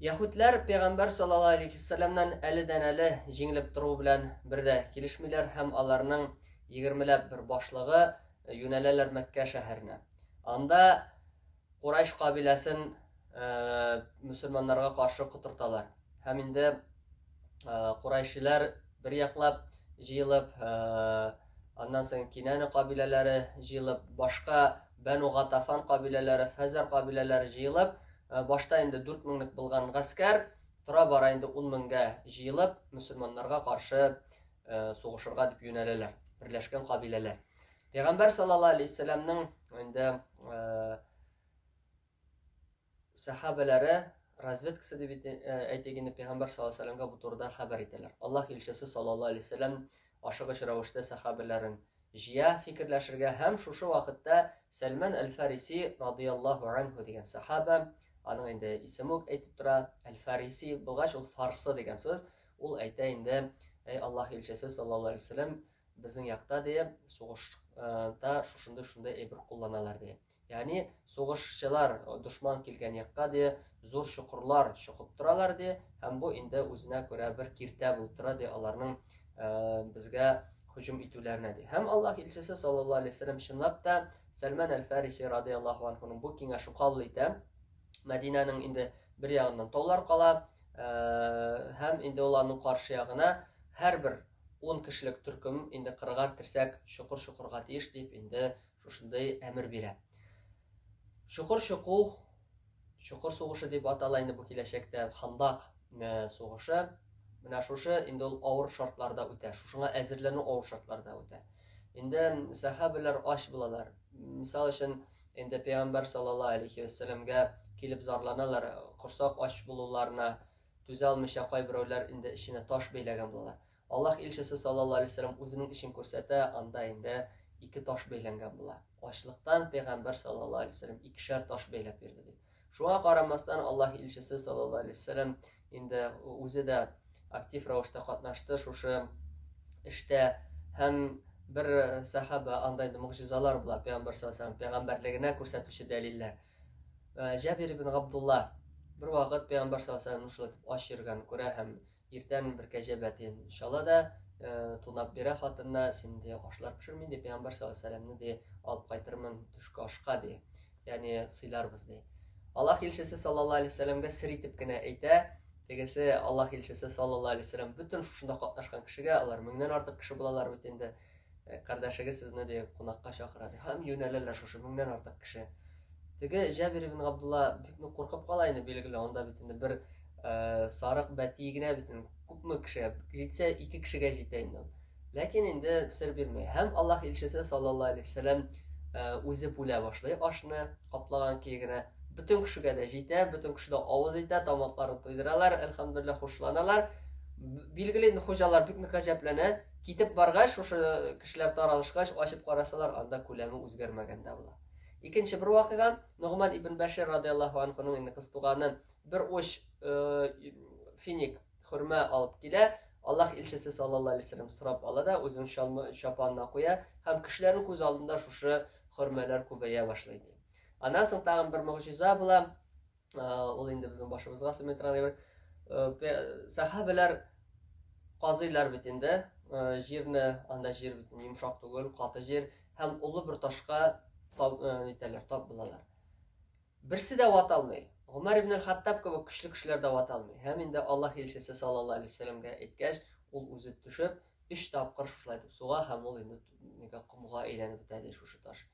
Яһүдләр пәйгамбәр саллаллаһу алейһи ва сәлламнән әледән-әле җиңелеп тору белән бер дә килешмиләр һәм аларның егермеләп бер башлыгы юнәләләр Мәккә шәһәренә. Анда Курайш кабиләсен э, мөселманнарга каршы котырталар. Һәм инде э, Курайшиләр бер яклап җыелып, э, аннан соң Кинәне кабиләләре җыелып, башка Бәну Гатафан кабиләләре, Фәзәр кабиләләре җыелып, э, башта инде 4 меңлек булган гаскәр тора бара инде 10 меңгә җыелып, мөселманнарга каршы э, сугышырга дип юнәләләр, берләшкән кабиләләр. Пәйгамбәр саллаллаһу алейһи вәсәлламның инде э, Сәхабәләре разведкасы дип әйтик инде пәйгамбәр саллаллаһу алейһи ва бу турыда хәбәр итәләр. Аллаһ илчесе саллаллаһу алейһи ва сәлләм ашыгыч рәвештә сәхабәләрен җыя фикерләшергә һәм шушы вакытта Сәлман әл-Фариси радияллаһу анху дигән сәхабә, аның инде исеме үк әйтеп тора, әл-Фариси булгач ул фарсы дигән сүз, ул әйтә инде, әй Аллаһ илчесе саллаллаһу алейһи ва сәлләм, безнең якта ди, сугышта шушындый шундый әйбер кулланалар ди. Яни сугышчылар дошман килгән якка ди зур чокырлар чокып торалар ди һәм бу инде үзенә күрә бер киртә булып тора ди аларның безгә һөҗүм итүләренә ди һәм аллаһ илчесе саллаллаху алейхи вәсәләм чынлап та сәлман әл фәриси радиаллаху анхуның бу киңәшен кабул итә мәдинәнең инде бер ягыннан таулар кала һәм инде ул аның каршы ягына һәрбер он кешелек төркем инде кырыгар терсәк чокыр чокырга тиеш дип инде Шушындый әмер бирә. Чокыр чоку, чокыр сугышы дип атала инде бу киләчәктә, хандак э, сугышы. Менә шушы инде ул авыр шартларда үтә, шушыңа әзерләнү авыр шартларда үтә. Инде сәхәбәләр ач булалар. Мисал өчен, инде пәйгамбәр саллаллаһу алейхи вәссәламгә килеп зарланалар, корсак ач булуларына түзә алмыйча кайберәүләр инде эченә таш бәйләгән булалар. Аллаһ илчесе саллаллаһу алейһи ва сәлләм үзенең эшен күрсәтә, анда инде ике таш бәйләнгән була. Ачлыктан пәйгамбәр саллаллаһу алейһи ва сәлләм икешәр таш бәйләп йөрде ди. Шуңа карамастан Аллаһ илчесе саллаллаһу алейһи ва сәлләм инде үзе дә актив рәвештә катнашты шушы эштә һәм бер сахаба анда инде могҗизалар була пәйгамбәр саллаллаһу алейһи ва сәлләм пәйгамбәрлегенә күрсәтүче дәлилләр. Җабир ибн Габдулла бер вакыт пәйгамбәр саллаллаһу алейһи ва сәлләм шулай дип ач йөргән күрә һәм Иртән бер кәҗә бәтен чала да, тунап бирә хатынына, син де ашлар пешер, мин де пәйгамбәр саллаллаху де алып кайтырмын төшке ашка ди. Ягъни сыйларбыз ди. Аллаһ илчесе саллаллаху алейхи вәсәләмгә сер итеп кенә әйтә, тегесе Аллаһ илчесе саллаллаху алейхи вәсәләм бөтен шушында катнашкан кешегә, алар меңнән артык кеше булалар бит инде, Э, кардәшегез сезне ди кунакка чакыра ди һәм юнәләләр шушы меңнән артык кеше теге җәбир ибн габдулла бик нык куркып кала инде билгеле анда бит инде бер э, сарык бәти генә бит күпме кешегә җитсә ике кешегә җитә инде ләкин инде сер бирмәй һәм аллаһ илчесе саллаллаху алейһи вәсәләм э, үзе бүлә башлый ашны каплаган көе генә бөтен кешегә дә җитә бөтен кеше дә авыз итә тамакларын туйдыралар әлхәмдулилла хушланалар билгеле инде хуҗалар бик нык гаҗәпләнә Китеп баргач, шушы кешеләр таралышкач, ачып карасалар, анда күләме үзгәрмәгән дә була. Икенче бер вакыйга, Нугман ибн Бәшир радияллаһу анхуның инде кыз туганы бер уч э, финик хөрмә алып килә. Аллаһ илчесе саллаллаһу алейхи вәсәлләм сорап ала да үзен чалмы чапанына куя һәм кешеләрнең күз алдында шушы хөрмәләр күбәя башлый ди. Аннан соң тагын бер могҗиза була. ул инде безнең башыбызга сыметраны бер сәхәбәләр казыйлар бит инде җирне анда җир бит йомшак түгел каты җир һәм олы бер ташка итәләр тап булалар берсе дә вата алмый гомәр ибн хаттаб кебек көчле кешеләр дә вата алмый һәм инде аллаһ илчесе саллаллаху алейһи вәсәләмгә әйткәч ул үзе төшеп өч тапкыр шулай итеп суга һәм ул инде комга әйләнеп бетә ди шушы таш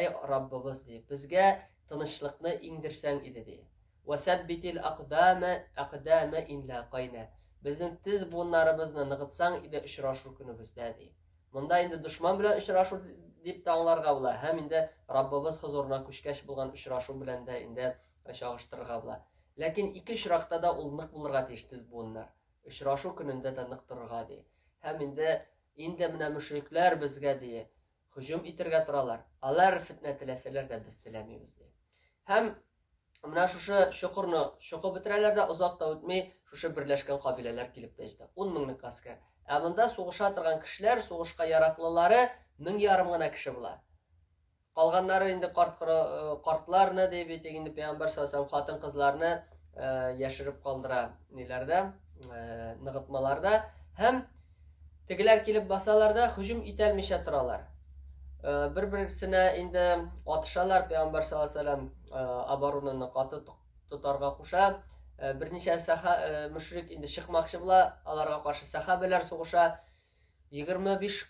Әй Раббыбыз, ди, безгә тынычлыкны иңдерсәң иде, ди. Вәсәббитил акдама акдама инла кайна. Безнең тез буыннарыбызны ныгытсаң иде очрашу көнебездә, ди. Монда инде дошман белән очрашу дип тә аңларга була, һәм инде Раббыбыз хозурына күчкәч булган очрашу белән дә инде чагыштырырга була. Ләкин ике очракта да ул нык булырга тиеш тез буыннар. Очрашу көнендә дә нык торырга ди. Һәм инде инде менә мөшрикләр безгә ди, һөҗүм итергә торалар. Алар фетнә теләсәләр дә без теләмибез ди. Һәм менә шушы чокырны чокып бетерәләр дә, озак та үтми шушы берләшкән кабиләләр килеп тә җитә. 10 меңлек гаскәр. Ә монда сугыша торган кешеләр, сугышка яраклылары мең ярым гына кеше була. Калганнары инде карт э, картларны ди бит инде пәйгамбәр саллаллаху хатын-кызларны э, яшереп калдыра ниләрдә, э, ныгытмаларда һәм Тегеләр килеп басалар да һөҗүм итәлмичә торалар. Бер-берсенә инде атышалар, пәйгамбәр саллаллаһу алейһи ва саллям оборонаны каты тотарга куша. Берничә саха мөшрик инде чыкмакчы була, аларга каршы сахабәләр сугыша. 25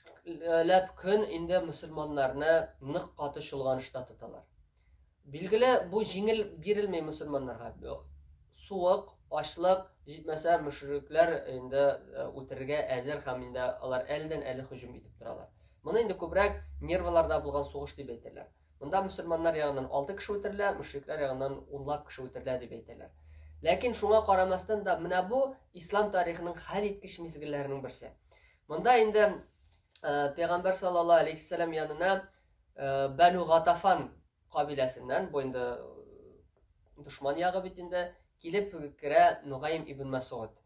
ләп көн инде мусульманнарны нык каты чолганышта тоталар. Билгеле, бу җиңел бирелми мусульманнарга. Суык, ачлык, җитмәсә мөшрикләр инде э, үтерергә әзер һәм инде алар әлдән әле һөҗүм итеп торалар. Моны инде күбрәк нервларда булган сугыш дип әйтәләр. Монда мусульманнар ягыннан 6 кеше үтерелә, мөшрикләр ягыннан унлап кеше үтерелә дип әйтәләр. Ләкин шуңа карамастан да менә бу ислам тарихының хәл иткеч мизгелләренең берсе. Монда инде э, пәйгамбәр саллаллаһу алейхи янына Бәну Гатафан кабиләсеннән, бу инде дошман ягы бит инде, килеп керә Нугаим ибн Мәсгуд.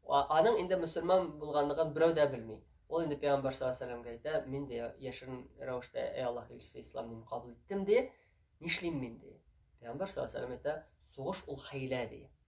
Аның инде мөселман булганлыгын берәү дә белми. Ул инде пәйгамбәр саллаллаһу алейһи әйтә, мин дә яшерен рәвештә әй Аллаһ илчесе ислам динен кабул иттем ди. Нишлим мин ди? Пәйгамбәр саллаллаһу алейһи әйтә, сугыш ул хәйлә ди.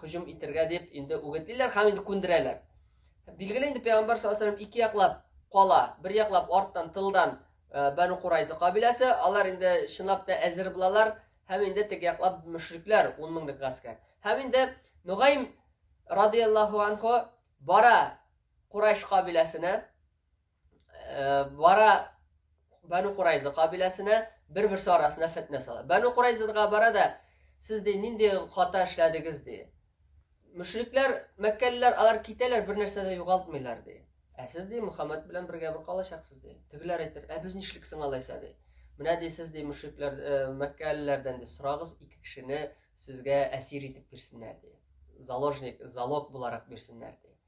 һөҗүм итәргә дип инде үгетлиләр һәм инде күндерәләр. Билгеле инде пәйгамбәр саллаллаһу алейһи ике яклап кала, бер яклап арттан, тылдан э, Бәну Курайза кабиләсе, алар инде чынлап та әзер булалар һәм инде теге яклап мөшрикләр 10 меңлек гаскәр. Һәм инде Нугайм радияллаһу анху бара Курайш кабиләсенә бара Бәну Курайза кабиләсенә бер-берсе арасына фетнә сала. Бәну Курайзага бара да сез ди нинди хата эшләдегез ди. Мөшрикләр, мәккәлеләр алар китәләр, бер нәрсә дә югалтмыйлар ди. Ә сез ди Мухаммад белән бергә бер калачаксыз ди. Тегеләр әйтер, ә без нишлек соң алайса ди. Менә ди сез ди мөшрикләр, э, мәккәлеләрдән ди сорагыз, ике кешене сезгә әсир итеп бирсеннәр ди. Заложник, залог буларак бирсеннәр ди.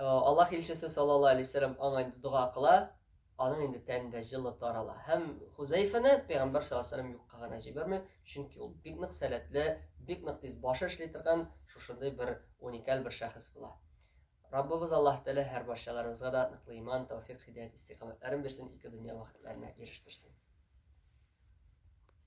Аллаһ илчесе саллаллаһу алейһи вәсәлләм аңа инде дога кыла, аның инде тәнендә җылы тарала. Һәм Хузәйфәне пәйгамбәр саллаллаһу алейһи юкка гына җибәрми, чөнки ул бик нык сәләтле, бик нык тиз башы эшли торган шушындый бер уникаль бер шәхес була. Раббыбыз Аллаһ Тәгалә һәр барчаларыбызга да ныклы иман, тәүфик, хидәят, истикамәтләрен бирсен, ике дөнья бәхетләренә ирештерсен.